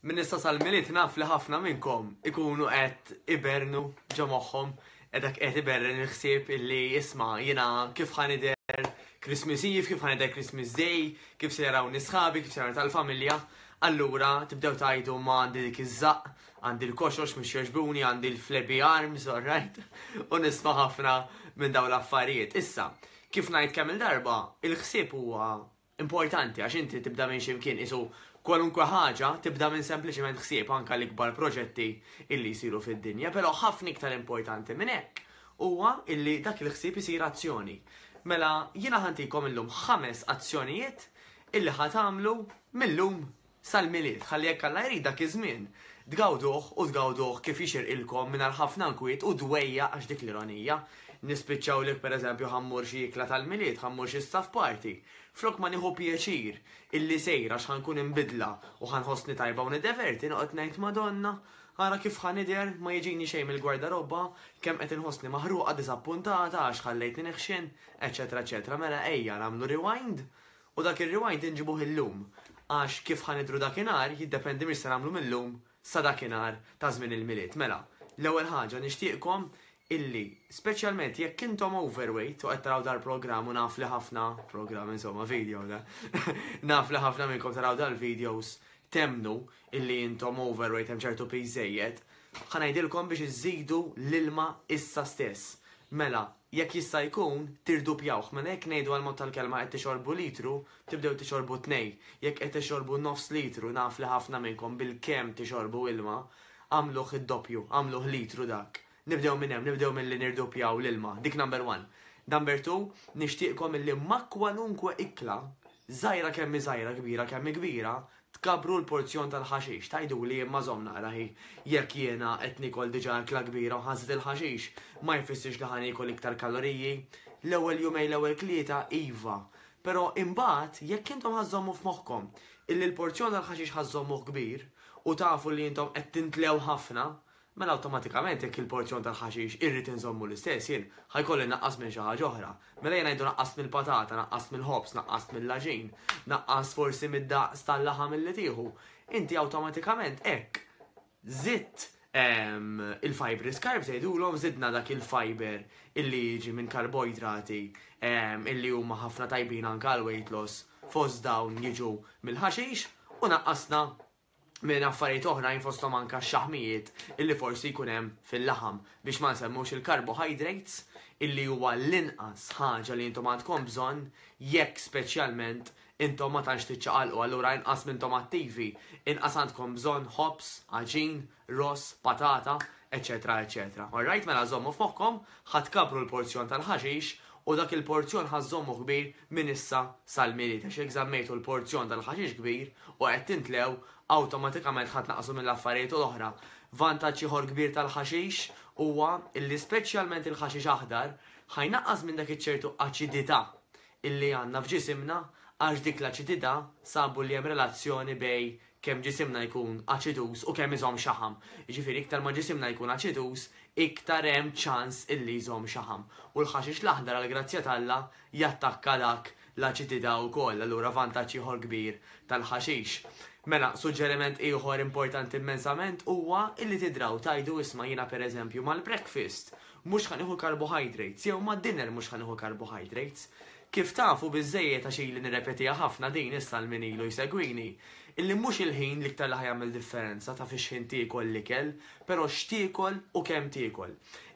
Minn issa sal-miliet naf li ħafna minnkom ikunu qed ibernu ġo moħħom edak qed iberren il-ħsieb illi jisma' jiena kif ħanider Christmas Eve, kif ħanider Christmas Day, kif se jaraw nisħabi, kif se jaraw tal-familja. Allura tibdew tajdu ma għandi dik iż-żaq, għandi l-koxox mhux joġbuni, għandi l-flebi arms, alright? U nisma' ħafna minn dawn l-affarijiet. Issa, kif ngħid kemm il-darba, il-ħsieb huwa importanti għax inti tibda minn xi mkien qisu kwalunkwe ħaġa tibda minn sempliċement ħsieb anke l-ikbar proġetti illi jsiru fid-dinja, però ħafna iktar importanti minn hekk huwa illi dak il-ħsieb isir azzjoni. Mela jiena ħantikom illum ħames azzjonijiet illi ħatamlu mill-lum sal-Milied, ħalli jekk Alla jrid dak iż-żmien, tgawduh u tgawduh kif jixirqilkom mingħajr ħafna nkwiet u dwejjaq għax dik l-ironija, nispiċċaw li pereżempju ħa mmur xi ikla tal-Milied, ħa mmur xi staff party, flok ma nieħu pjaċir illi sejr għax ħa nkun imbidla u ħa nħossni tajba u niddeverti, noqgħod ngħid Madonna, ara kif ħa nidher, ma jiġini xejn mill-gwardarobba, kemm qed inħossni maħruqa, diżappuntata għax ħallejtni neħxen, eċċetera eċċetera Mela ejja nagħmlu rewind U dak ir-rewind inġibuh illum, għax kif ħa nidhru dakinhar jiddependi minn x'se nagħmlu mil-lum sa dakinhar ta' żmien il-Milied. Mela, l-ewwel ħaġa nixtieqkom illi, speċjalment jekk intom overweight u qed taraw dal-programm u naf li ħafna, programm insomma, video da, naf li ħafna minnkom taraw dal-videos temnu illi intom overweight hemm ċertu piż żejjed, ħa ngħidilkom biex iżżidu l-ilma issa stess. Mela, jekk jista' jkun, tirdupjawh. Mela jekk ngħidu għall-mod tal-kelma qed tixorbu litru, tibdew tixorbu tnej. Jekk qed ixorbu nofs litru, naf li ħafna minnkom bilkemm tixorbu ilma, agħmluh id-doppju, agħmluh litru dak. Nibdew minn hemm, nibdew milli nirdupjaw l-ilma. Dik number one. Number two, nixtieqkom illi ma' kwalunkwe ikla, żgħira kemm hi żgħira, kbira kemm hi kbira, Tkabbru l-porzjon tal-ħaxix, tgħiduli imma żomm naqra hi, jekk jiena qed niekol diġà akla kbira u ħażet il-ħaxix, ma jfissirx li ħa niekol iktar kaloriji? L-ewwel jumejn l-ewwel klieta iva, però imbagħad jekk intom ħa żżommu f'moħħkom illi l-porzjon tal-ħaxix ħa żżommuh kbir u tafu li intom qed tintlew ħafna mela awtomatikament jekk il-porzjon tal-ħaxix irrid inżommu l-istess jien, ħa jkolli nnaqqas minn xi ħaġa oħra. Mela jien ngħidu naqqast mill-patata, naqqast mill-ħobż, naqqast mill-għaġin, naqqast forsi mid-daqs tal-laħam illi tieħu. Inti awtomatikament hekk żidt ehm, il-fibri skarb tgħidulhom żidna dak il-fiber illi jiġi minn karboidrati ehm, illi huma ħafna tajbin anke għal weight loss fost dawn jiġu mill-ħaxix u naqqasna minn affarijiet oħrajn fosthom anke x-xaħmijiet illi forsi jkun hemm fil-laħam biex ma nsemmux il-carbohydrates illi huwa l-inqas ħaġa li intom għandkom bżonn jekk speċjalment intom ma tantx tiċċaqalqu allura inqas minntom attivi, inqas għandkom bżonn ħobż, għaġin, ross, patata, eċċetera eċċetera. Orrajt, mela żommu f'moħħkom, ħa tkabbru l-porzjon tal-ħaxix u dak il-porzjon ħa żżommu kbir minn issa sal-Milied għax jekk żammejtu l-porzjon tal-ħaxix kbir u qed tintlew, awtomatikament ħa tnaqqsu mill-affarijiet l-oħra. Vantaġġ ieħor kbir tal-ħaxix huwa li speċjalment il-ħaxix aħdar ħa jnaqqas minn dak iċ-ċertu aċidità illi għandna f'ġisimna għax dik l-aċidità sabu li hemm relazzjoni bejn kemm ġisimna jkun aċiduż u kemm iżomm xaħam. Jiġifieri iktar ma ġisimna jkun aċiduż, iktar hemm ċans illi jżomm xaħam. U l-ħaxix l-aħdar għall-grazzja t'Alla jattakka dak l-aċidità wkoll, allura vantaġġ ieħor kbir tal-ħaxix. Mela, suġġeriment ieħor importanti immensament huwa illi tidraw tgħidu isma' jiena pereżempju mal-breakfast mhux ħa nieħu carbohydrates jew mad-dinner mhux ħa nieħu carbohydrates. Kif tafu biżżejjed għax ili nirrepetiha ħafna din issa għal min ilu jsegwini, illi mhux il-ħin l-iktar li ħa jagħmel differenza ta' fix-xħin tiekol l-ikel, però x'tiekol u kemm tiekol.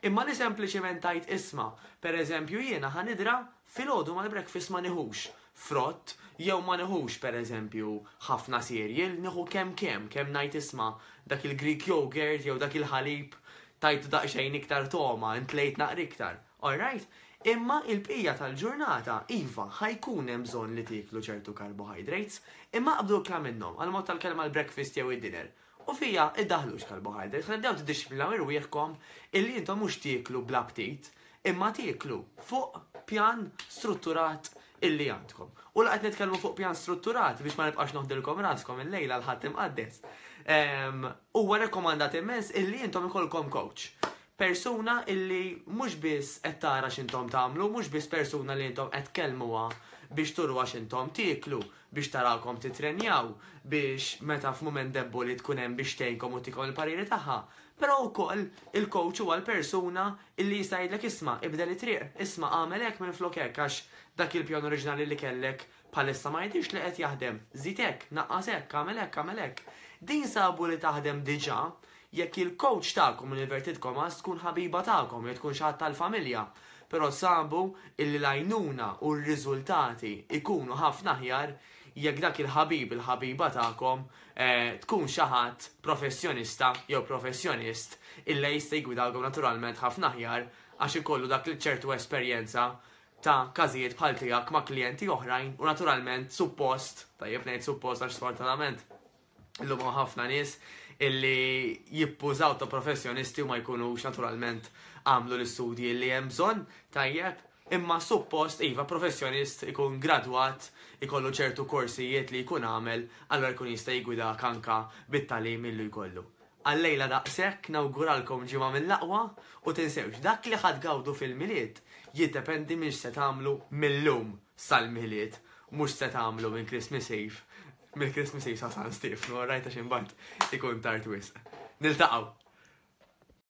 Imma li sempliċiment tgħid isma', per eżempju jiena ħa nidra filgħodu mal-breakfast ma nieħux frott jew ma nieħux per eżempju ħafna cereal, nieħu kemm kemm, kemm ngħid isma' dak il-Greek yogurt jew dak il-ħalib tajtu daqsxejn iktar togħma, intlejt naqra iktar. All right. Imma il-bqija tal-ġurnata, iva, ħa jkun hemm bżonn li tieklu ċertu carbohydrates. Imma aqbdu ikla minnhom, għall-mod tal-kelma l-breakfast jew id-dinner. U fiha iddaħħlux carbohydrates, ħalli tbdew tiddixxiplinaw irwieħkom illi intom mhux tieklu bla ptit, imma tieklu fuq pjan strutturat illi għandkom. U la qed nitkellmu fuq pjan strutturat biex ma nibqax noħdilkom raskom il-lejla l-Ħadd Imqaddes. Ehm, huwa rekomandat immens illi intom ikolkom coach. persuna illi mhux biss qed tara x'intom tagħmlu, mhux biss persuna li intom qed tkellmuha biex turuha x'intom tieklu, biex tarakom titrenjaw, biex meta f'mument debboli tkun hemm biex tgħinkom u tikom il-pariri tagħha, Però wkoll il-coach huwa l-persuna illi jista' jgħidlek isma' ibdel it-triq, isma' għamel hekk minflok hekk għax dak il-pjan oriġinali li kellek Bħalissa ma jidhirx li qed jaħdem. Żid hekk, naqqas hekk, agħmel hekk, agħmel hekk. Din sabu li taħdem diġà jekk il-kowċ tagħkom, l-inverted commas, tkun ħabiba tagħkom jew tkun xi ħadd tal-familja. Però sabu illi l-għajnuna u r-riżultati jkunu ħafna aħjar jekk dak il-ħabib, il-ħabiba tagħkom eh, tkun xi ħadd professjonista jew professjonist illi jista' jgwidalkom naturalment ħafna aħjar għax ikollu dak li ċertu esperjenza ta' każijiet bħal tiegħek ma' klijenti oħrajn u naturalment suppost, tajjeb ngħid suppost għax sfortunatament illum hawn ħafna nies illi jippużaw ta' professjonisti u ma jkunux naturalment għamlu l-istudji li hemm bżonn, tajjeb, imma suppost iva professjonist ikun gradwat ikollu ċertu korsijiet li jkun għamel, allora jkun jista' jgwida kanka bit-talim illu jkollu. Għal-lejla daqshekk nawguralkom ġimgħa mill-aqwa u tinsewx dak li ħa tgawdu fil-Milied jiddependi minn x'se tagħmlu mil-lum sal-Milied mhux x'se tagħmlu minn Christmas Eve mill Christmas Eve sa San Stiefnu orrajt għax imbagħad ikun tard wisq. Niltaqgħu!